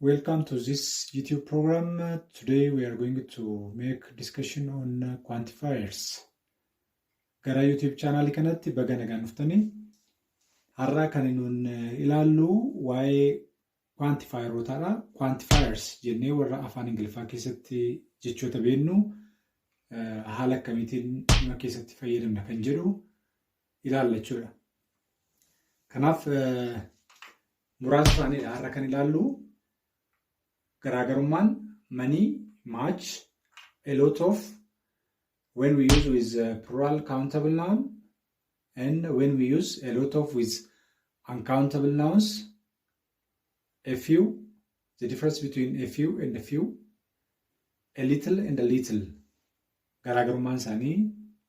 Welcome to this YouTube program. Uh, Today we are going to make discussion on uh, quantifiers. Gara YouTube channel kanatti baga nagaan dhuftanii har'a kan nuun uh, ilaallu waa'ee quantifierootaadha. Quantifiers jennee warra afaan Ingiliffaa keessatti jechoota beennu uh, haala akkamiitiin dhimma keessatti fayyadamna kan jedhu ilaalla jechuudha. Kanaaf muraasa isaaniidha har'a kan ilaallu garaagarummaan manii match a lot of when we use with uh, plural countable noun and when we use a lot of with uncountable nouns A few, the difference between a few and a few, a little and a little. Garaagarummaan isaanii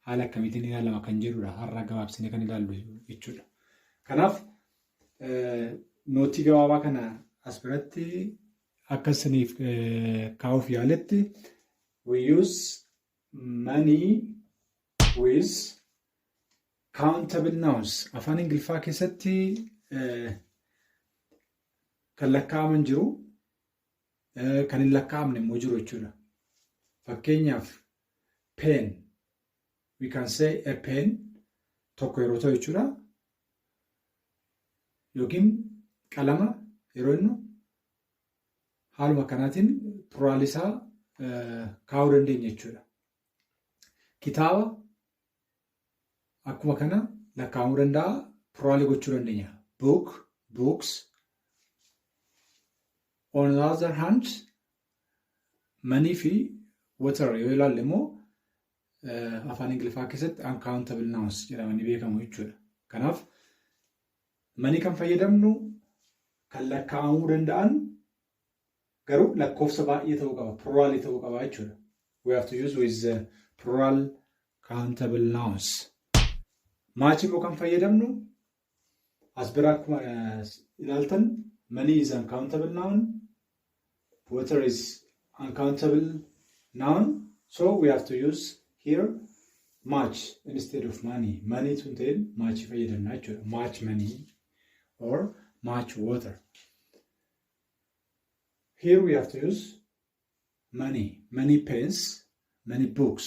haala akkamiitiin ilaalama kan jedhudha. Har'a gabaabsinee kan ilaallu jechuudha. Kanaaf nootii gabaabaa kana as biratti akka isiniif kaa'uuf yaaletti we use money with Countable nouns afaan Ingiliffaa keessatti kan lakkaa'aman jiru kan hin lakkaa'amne immoo jiru jechuudha. Fakkeenyaaf pen we can say a pen tokko yeroo ta'u jechuudha. Yookiin qalama yeroo jennu haaluma kanaatiin pluraal isaa kaa'uu dandeenya jechuudha. kitaaba akkuma kana lakkaa'amuu danda'a piraalii gochuu dandeenya book books on the other hand manii fi water yoo ilaalle immoo afaan ingiliffaa keessatti uncountable nouns jedhamanii beekamu jechuudha kanaaf manii kan fayyadamnu kan lakkaa'amuu danda'an Garuu lakkoofsa baay'ee ta'uu qaba. Pluralii ta'uu qaba jechuudha. We have to use with the plural countable nouns. Maachi immoo kan fayyadamnu as bira akkuma ilaaltan money is uncountable noun, water is uncountable noun, so we have to use here much instead of money. Money tun ta'een maachi fayyadamna jechuudha. Much money or much water. Here we have to use many, many pens, many books.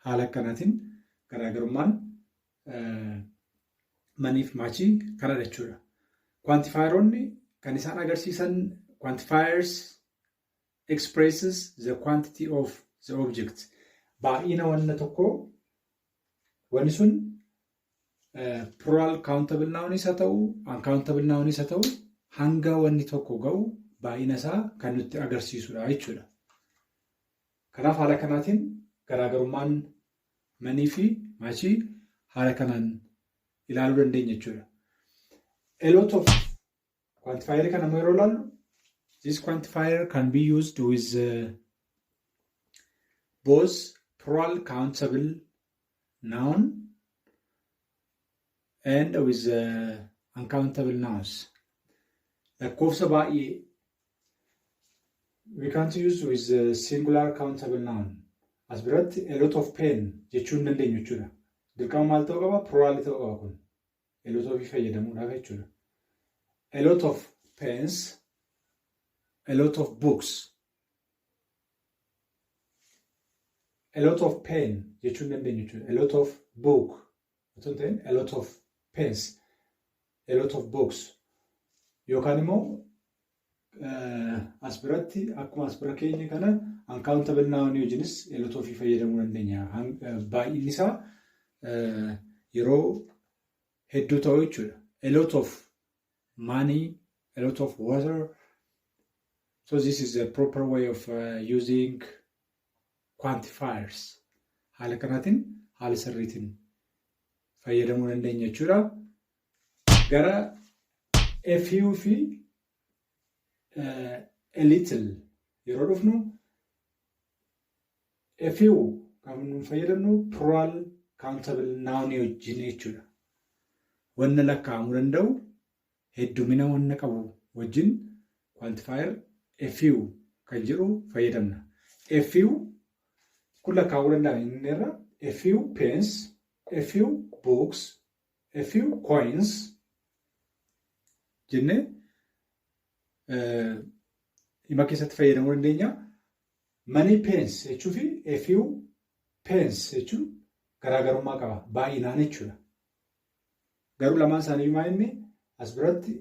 Haala akkanaatiin garaagarummaan maniif maachii kana jechuudha. Kwantifaayeroonni kan isaan agarsiisan kwantifaayers expresses the quantity of the object. Baay'ina wanna tokkoo wanni sun Plural countable nouns haa ta'u, uncountable nouns haa ta'u hanga wanni tokko ga'u baay'ina isaa kan nutti agarsiisudha jechuudha. Kanaaf haala kanaatiin garaagarummaan manii fi maachii haala kanaan ilaaluu dandeenya jechuudha. A lot of Quantifier kana immoo yeroo ilaallu this quantifier can be used with uh, both plural countable noun and with uh, uncountable nouns. Lakkoofsa baay'ee we can't use with a singular countable noun. As biratti a lot of pain jechuun dandeenyu jechuudha. Dirqama maal ta'uu qaba? Plural ta'uu qaba kun. A lot of fayyadamuudhaaf jechuudha. A lot of pens, a lot of books, a lot of pen jechuun dandeenyu jechuudha. A lot of book otoo hin ta'in a lot of pens, a lot of books yookaan immoo as biratti akkuma as bira keenya kana uncountable noun wajjinis elota ofii fayyadamuu dandeenya. Baay'inni isaa yeroo hedduu ta'u jechuudha. A lot of money, a lot of water. So this is a proper way of uh, using quantifiers. Haala kanaatiin haala sirriitiin fayyadamuu dandeenya jechuudha. gara a few fi a little yeroo dhufnu a few kan nu fayyadamnu plural countable noun wajjin jechuudha. Wanna lakkaa'amuu danda'u heddumina wanna qabu wajjin quantifier a few kan jedhu fayyadamna. A few kun lakkaa'uu danda'an inni irra a few pens, a few books, a few coins jennee hima keessatti fayyadamuu dandeenya. Many pence jechuu fi a few pence jechuun garaagarummaa qaba. Baay'inaan jechuudha. Garuu lamaan isaanii maal inni as biratti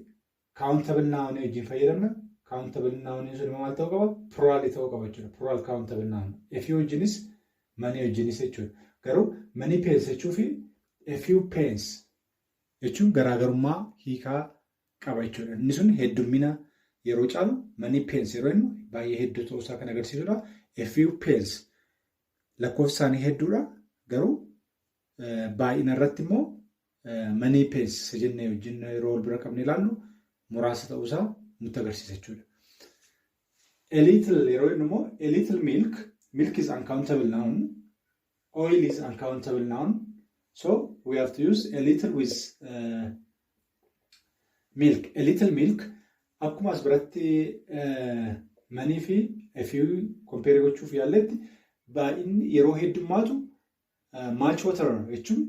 Countable noun wajjin fayyadamna. Countable noun sun immoo maal ta'uu qaba? Plural ta'uu qaba jechuudha. Plural countable noun. A few wajjinis manii wajjinis jechuudha. Garuu manii pence jechuu fi a few pence jechuun garaagarummaa hiikaa qaba jechuudha. Inni sun heddummina yeroo caalu manii pence yeroo jennu baay'ee hedduu ta'uu isaa kan agarsiisudha. A few pence lakkoofsi isaanii hedduudha. Garuu baay'ina irratti immoo Manii pees isa jennee wajjin yeroo wal bira qabnee ilaallu muraasa ta'uu isaa nutti agarsiisa jechuudha. A little yeroo jennu immoo a little milk, milk is uncountable noun, oil is uncountable noun, so we have to use a little with uh, milk. A little milk akkuma as biratti uh, manii fi a few compare gochuuf yaalletti baay'inni yeroo heddummaatu Much water jechuun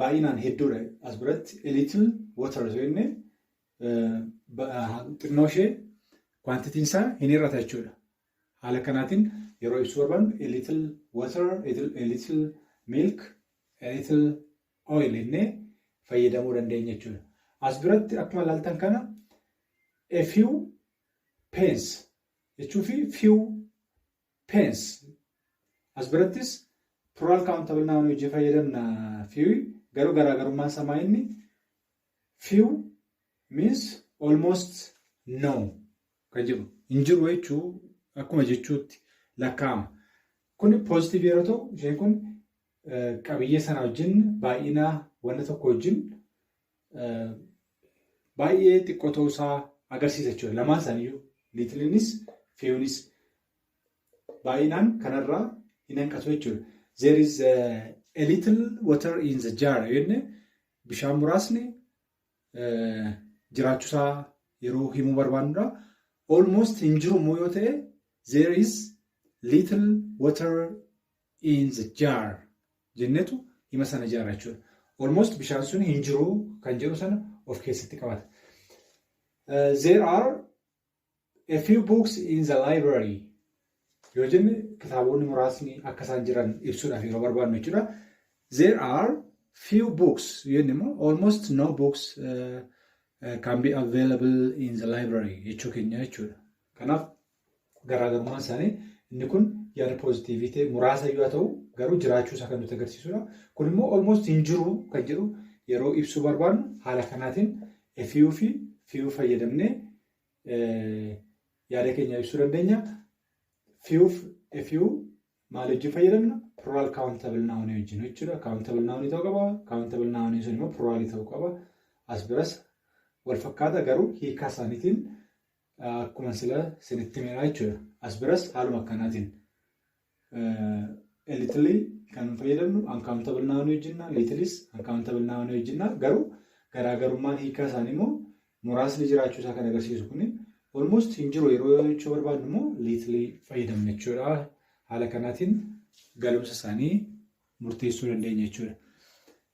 baay'inaan hedduudha as biratti a little water osoo jenne xinnoo ishee kwantitiin isaa hin hir'ata jechuudha. Haala kanaatiin yeroo ibsuu barbaannu a little water, a little milk, a little oil jennee fayyadamuu dandeenya jechuudha. As biratti akkuma ilaaltan kana a few pence jechuu fi few Pence. As birattis plural countable noun hojii fayyadamna few garuu garaagarummaan isaa maa inni few means almost no kan jedhu hin jiru jechuu akkuma jechuutti lakkaa'ama. Kun positive yeroo ta'u isheen kun qabiyyee sana wajjin baay'ina wanta tokko wajjin baay'ee xiqqoo ta'uu isaa agarsiisa jechuudha. Lamaan isaaniiyyuu liitiliinis feewunis baay'inaan kanarraa hin hanqatu jechuudha. There is a, a little water in the jar jenne bishaan muraasni eh, jiraachuusaa yeroo himuu barbaannudha. Almost hin jiru immoo yoo ta'e there is little water in the jar jennetu hima sana ijaarra jechuudha. Almost bishaan sun hin jiru kan jedhu sana of keessatti qabata. There are a few books in the library yoo jenne kitaabonni muraasni akka isaan jiran ibsuudhaaf yeroo barbaadnu jechuudha. There are few books yoo jenne immoo almost no books uh, uh, can be available in the library jechuu keenya jechuudha. Kanaaf Garaagarummaan isaanii inni kun yaada poozitiivii ta'e muraasa iyyuu haa ta'u garuu jiraachuu isaa kan nuti agarsiisudha. Kun immoo almost hin jiru kan jedhu yeroo ibsuu barbaadnu haala kanaatiin efiyuu fi fiyuu fayyadamnee yaada keenya ibsuu dandeenya. Fiyuuf efiyuu maal wajjin fayyadamna? Plural countable noun wajjin jechuudha. Countable noun ta'uu qaba. Countable noun sun immoo plural ta'uu qaba. As biras wal fakkaata garuu hiikaa isaaniitiin Akkuma sila sinitti himeera jechuudha. As biras haaluma akkanaatiin elitilii kan fayyadamnu uncountable noun wajjinna liitilis uncountable noun wajjinna garuu garaagarummaan hiikaa isaanii immoo muraasni jiraachuu isaa kan agarsiisu kuni almost hin jiru yeroo jechuu barbaadnu immoo liitilii fayyadamna jechuudha. Haala kanaatiin galumsa isaanii murteessuu dandeenya jechuudha.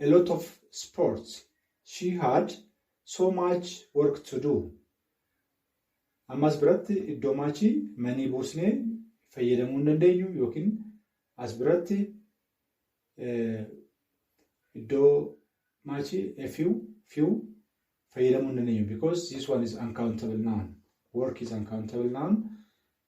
a lot of sports she had so much work to do ammas biratti iddoo maachii manii buusnee fayyadamuu hin dandeenyu yookiin as biratti iddoo maachii a few few fayyadamuu hin dandeenyu because this one is uncountable noun work is uncountable noun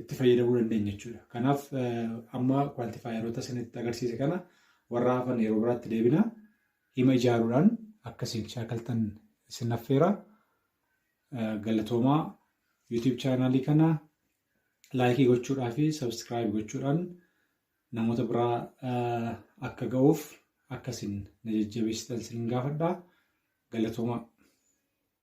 itti fayyadamuu dandeenya jechuudha. Kanaaf amma kwantifaayeroota isinitti agarsiise kana warra hafan yeroo biraatti deebina hima ijaaruudhaan akka isin shaakaltan isin affeera. Galatoomaa YouTube chaanaalii kana laayikii gochuudhaa fi sabskiraayib gochuudhaan namoota biraa akka ga'uuf akka isin na jajjabeessitan isin gaafadha. Galatoomaa.